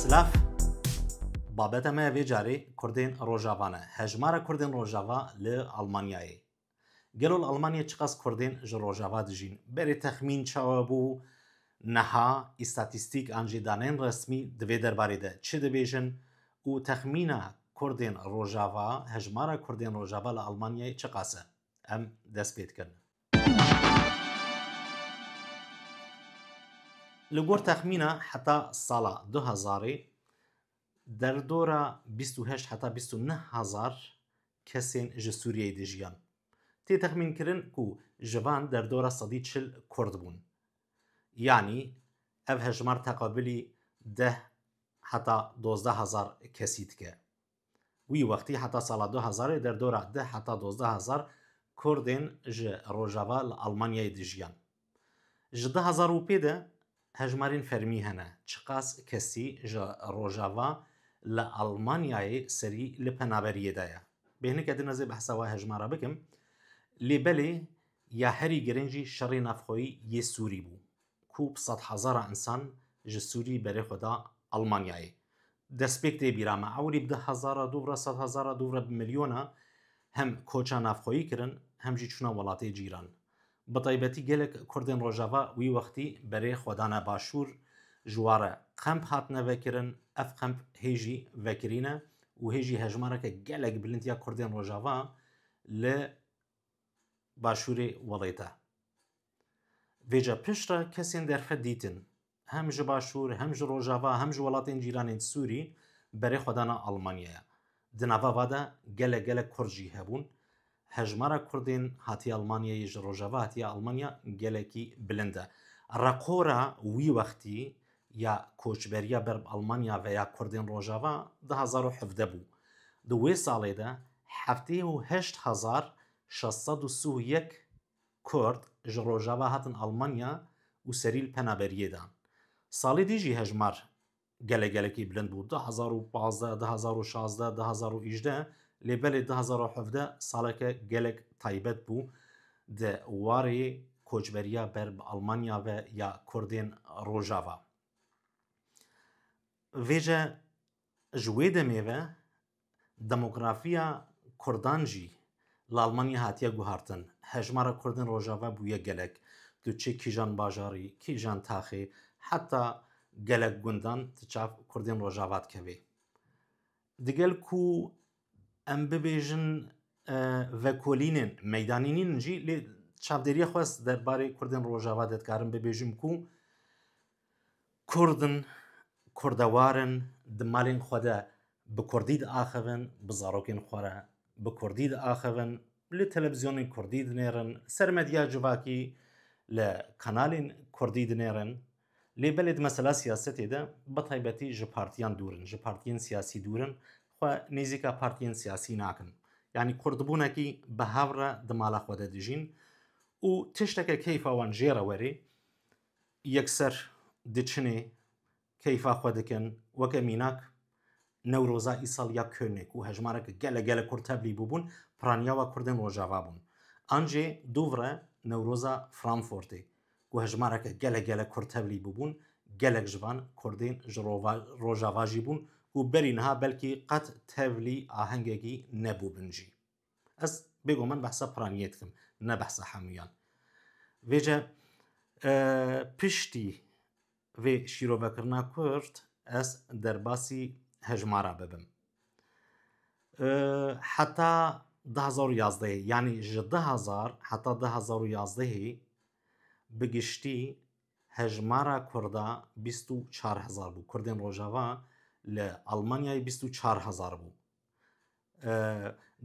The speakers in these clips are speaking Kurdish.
Silav Babeta me vê carê Kurdên Rojava ne. Hejmara Kurdên Rojava li Almanyayê. Gelo li Almanyayê çiqas Kurdên ji Rojava dijîn? Berê texmîn çawa bû neha îstatîstîk an jî danên resmî di vê derbarê de çi dibêjin û texmîna Kurdên Rojava, Hejmara Kurdên Rojava li Almanyayê çiqas e? Em dest pê dikin. Li gor texmîna heta sala du hezarê derdora bîst û heşt heta bîst û neh hezar kesên ji Sûriyeyê dijiyan. Tê texmînkirin ku ji van derdora sedî çil Kurd bûn. Yanî ev hejmar teqabilî deh heta dozdeh hezar kesî dike. Wî wextî heta sala du hezarê derdora deh heta dozdeh hezar Kurdên ji Rojava li Almanyayê dijiyan. Ji du hezar û pê de hejmarên fermî hene çiqas kesî ji Rojava li Almanyayê serî li penaberiyê de ye. Bêhnike din ez ê behsa we hejmara bikim lê belê Ya herî girin jî şerê navxweyî yê Sûrî bû ku bi sedhezara însan ji Sûrî berê xwe da Elmanyayê. Destpêk tê bîra me ewilî bi dehezara, dûvre sedhezara, dûvre bi milyona hem koça navxweyî kirin hem jî çûna welatê cîran. Bi taybetî gelek Kurdên Rojava wî wextî berê xwe dane Başûr, ji ware qemp hatine vekirin, ev qemp hê jî vekirî ne û hê jî hejmareke gelek bilind ya Kurdên Rojava li Başûrê welê de. Vêca pişt re kesên derxe dîtin. Hem ji Başûr, hem ji Rojava, hem ji welatên cîranên Sûrî berê xwe dana Almanyaya. Di nava va de gelek gelek Kurd jî hebûn. Hejmara Kurdên hatiye Almanyayê ji Rojava hatiye Almanya gelekî bilind e. Reqora wî wextî ya koçberiya ber bi Almanya ve ya Kurdên Rojava du hezar û hevdeh bû. Di wê salê de heftê û heşt hezar şeş sed û sih û yek Kurd ji Rojava hatin Almanya û serî li penaberiyê dan. Salê dî jî hejmar gelek gelekî bilind bû, du hezar û pazdeh, du hezar û şazdeh, du hezar û îjdeh lê belê du hezar û hevdeh saleke gelek taybet bû. Di warê koçberiya ber bi Almanya ve ya Kurdên Rojava. Vêce ji wê demê ve demografiya Kurdan jî li Almanya hatiye guhartin. Hejmara Kurdên Rojava bûye gelek. Tu çi kîjan bajarî, kîjan taxê, heta gelek gundan tu çav Kurdên Rojava dikevî. Digel ku Em bibêjin vekolînên meydanî nîn jî lê çavdêriya xwe derbarê Kurdên Rojava de dikarim bibêjim ku Kurdin kurdewar in di malên xwe de bi Kurdî diaxivin, bi zarokên xwe re bi Kurdî diaxivin, li televizyonên Kurdî dinêrin, li ser medya civakî li kanalên Kurdî dinêrin. Lê belê di mesela siyasetê de bi taybetî ji partiyan dûr in, ji partiyên siyasî dûr in, xwe nêzîka partiyên siyasî nakin. Yanî kurdbûnekî bi hev re di mala xwe de dijîn û tişteke keyfa wan jê re werê yekser diçinê keyfa xwe dikin weke mînak Newroza îsal ya Könê ku hejmarek gelek gelek Kurd tevlî bûbûn, piranîyawa Kurdên Rojava bûn. An jî Dûvre, Newroza Framfortê ku hejmarek gelek gelek Kurd tevlî bûbûn, gelek ji van Kurdên ji Rojava jî bûn ku berî niha belkî qet tevlî ahengekî nebûbin jî. Ez bêguman behsa Piraniyê dikim, ne behsa hemûyan. Vêce piştî vê şîrovekirina Kurd ez derbasî hejmara bibim. Heta du hezar û yazdehê yanî ji du hezar heta du hezar û yazdehê bi giştî hejmara Kurda bîst û çar hezar bû. Kurdên Rojava li Elmanyayê bîst û çar hezar bû.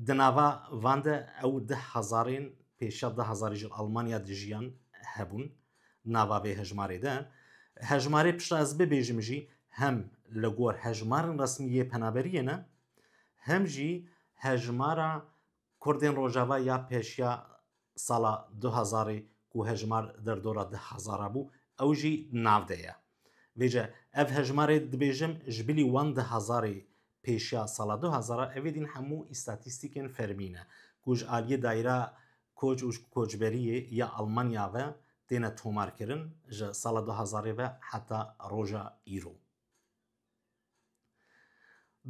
Di nava van de ew di hezarên pêşiya di hezarê ji Almanya dijiyan hebûn nava vê hejmarê de. Hejmarê pişta ez bibêjim jî hem li gor hejmarên resmî yê penaberiyê ne hem jî hejmara Kurdên Rojava ya pêşiya sala du hezarê ku hejmar derdora di hezara bû, ew jî di nav de ye. Vêce ev hejmarê dibêjim ji bilî wan di hezarê pêşiya sala du hezar a, evê din hemû îstatîstîkên fermî ne, ku ji aliyê Dayîra Koç û Koçberiyê ya Elmanya ve têne tomarkirin, ji sala du hezarê ve heta roja îro.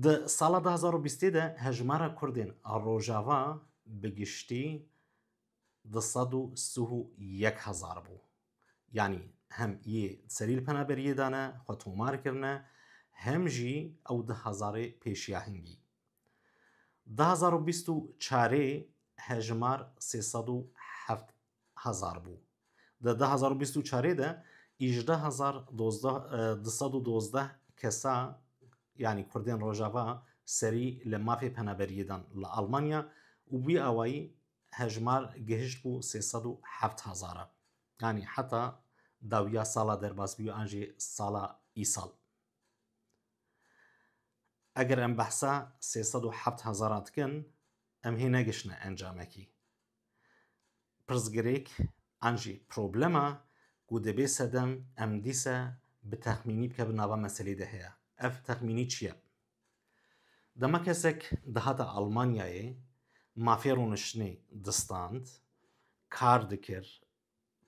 Di sala du hezar û bîstê de hejmara Kurdên a Rojava bi giştî di sed û sih û yek hezar bû. Yanî hem yê serî li penaberiyê de ne, xwe tomar kirine, hem jî ew di hezarê pêşiya hingî. Di hezar û bîst û çarê hejmar sê sed û heft hezar bû. Di du hezar û bîst û çarê de îjdeh hezar du sed û dozdeh kesa yanî Kurdên Rojava serî li mafê penaberiyê dan li Almanya û wî awayî hejmar gihişt bû sê sed û heft hezar e. Yanî heta dawiya sala derbas bûye an jî sala îsal. Eger em behsa sê sed û heft hezaran dikin em hê negişine encamekî. Pirsgirêk an jî problema ku dibê sedem em dîsa bi texmînî bike bi nava meselê de heye. Ev texmînî çi ye? Dema kesek dihata Almanyayê mafê rûniştinê distand, kar dikir,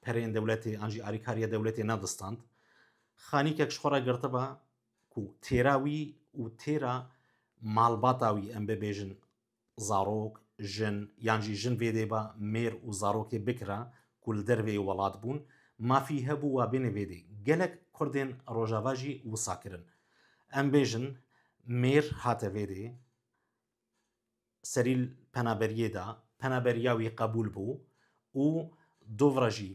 pereyên dewletê an jî arîkariya dewletê nedistand, xanîkek ji xwe re girtiba ku têra wî û têra malbata wî em bibêjin zarok, jin yan jî jin vê dê ba mêr û zarokê bikira ku li dervê yê welat bûn, mafî hebû wa bêne vê dê. Gelek Kurdên Rojava jî wisa kirin. Em bêjin mêr hate vê dê, serî penaberiyê da, penaberiya wî qebûl bû û dovra jî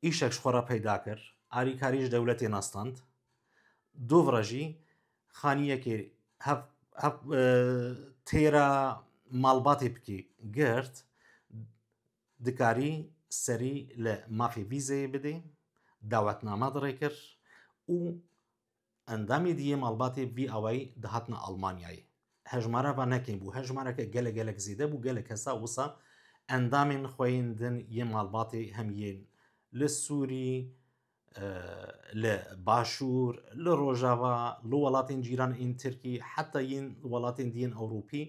Îşek ji xwe re peyda kir, alîkarî ji dewletê nastand. Dûv re jî xaniyekê hev hev têra malbatê bikî girt, dikarî serî li mafê vîzeyê bidê, dawetname dirêkir û Endamê di yê malbatê vî awayî dihatina Almanyayê. Hejmara va ne kêm bû, hejmareke gelek gelek zêde bû, gelek kesa wisa endamên xwe yên din yê malbatê hem yên li Sûrî, li Başûr, li Rojava, li welatên cîran ên Tirkî, heta yên welatên di yên Ewropî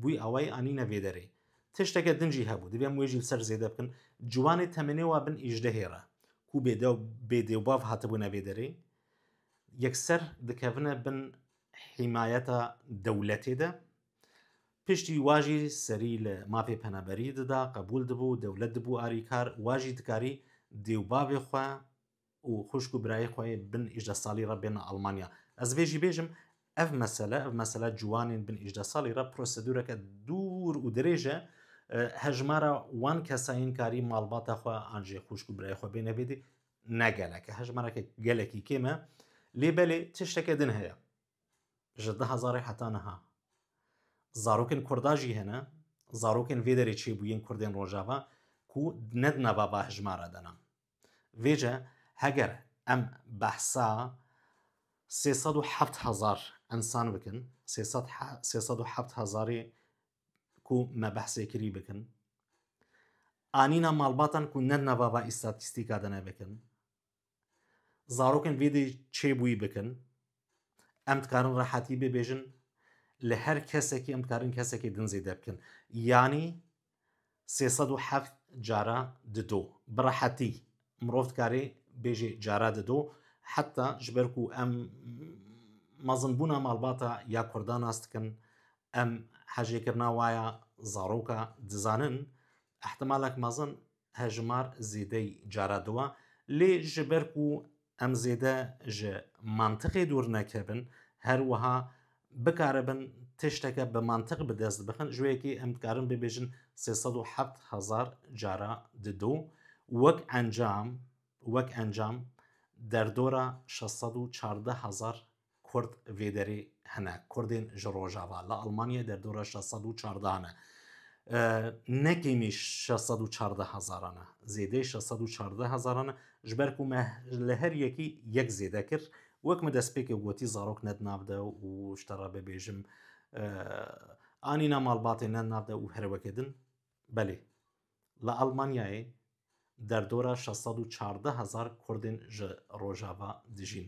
bûî awayî anîne vê derê. Tişteke din jî hebû, divê em wê jî li ser zêde bikin. Ciwanê temenê wa bin êjdehê re ku bêdew bêdêwbav hatibûne vê derê, yekser dikevine bin hîmayeta dewletê de. Piştî wa jî serî li mafê penaberî dida, qebûl dibû, dewlet dibû arîkar, wa jî dikarî dêwbavê xwe û xuşk û birayê xwe yê bin îjdeh salî re bêne Almanya. Ez vê jî bêjim ev mesele, ev mesele ciwanên bin îjdeh salî re prosedûreke dûr û dirêj e. Hejmara wan kesa yên karî malbata xwe an jî xuşk û birayê xwe bêne vêdî ne geleke hejmareke gelekî kêm e lê belê tişteke din heye ji di hezarê heta niha zarokên kurda jî hene zarokên vê derê çêbûyên kurdên rojava ku ne di nava va hejmara de ne vêce heger em behsa sê sed û heft hezar insan bikin sê sed hezarê ku me behsê kirî bikin. Anîna malbatan ku ne nevava îstatîstîka de ne bikin. Zarokên vê dê çêbûyî bikin. Em dikarin rehetî bibêjin li her kesekî em dikarin kesekî din zêde bikin. Yanî Sê sed û heft cara dido. Bi rehetî mirov dikarê bêjê cara dido heta ji ber ku em mezinbûna malbata ya Kurdan nas dikin, em hejêkirina wa ya zaroka dizanin, îhtimalek mezin hejimar zêdeyî cara diwa. Lê ji ber ku Em zêde ji mantiqê dûr nekevin, her wiha bikaribin tişteke bi mantiq bi dest bixin, ji wê yekê em dikarin bibêjin sê sed û heft hezar cara di do, wek encam, wek encam derdora şeş sed û çardeh hezar Kurd vê derê hene. Kurdên ji rojava li Almanyayê derdora şeş sed û çardeh ne. Ne kêmî şeş sed û çardeh hezaran e. Zêdeyê şeş sed û çardeh hezaran e. Ji ber ku me li her yekî yek zêde kir. Wek min destpêkê gotî zarok ne di nav de û ji te re bibêjim anîna malbatê ne di nav de û herweke din Belê, li Almanyayê derdora şeş sed û çardeh hezar Kurdên ji Rojava dijîn.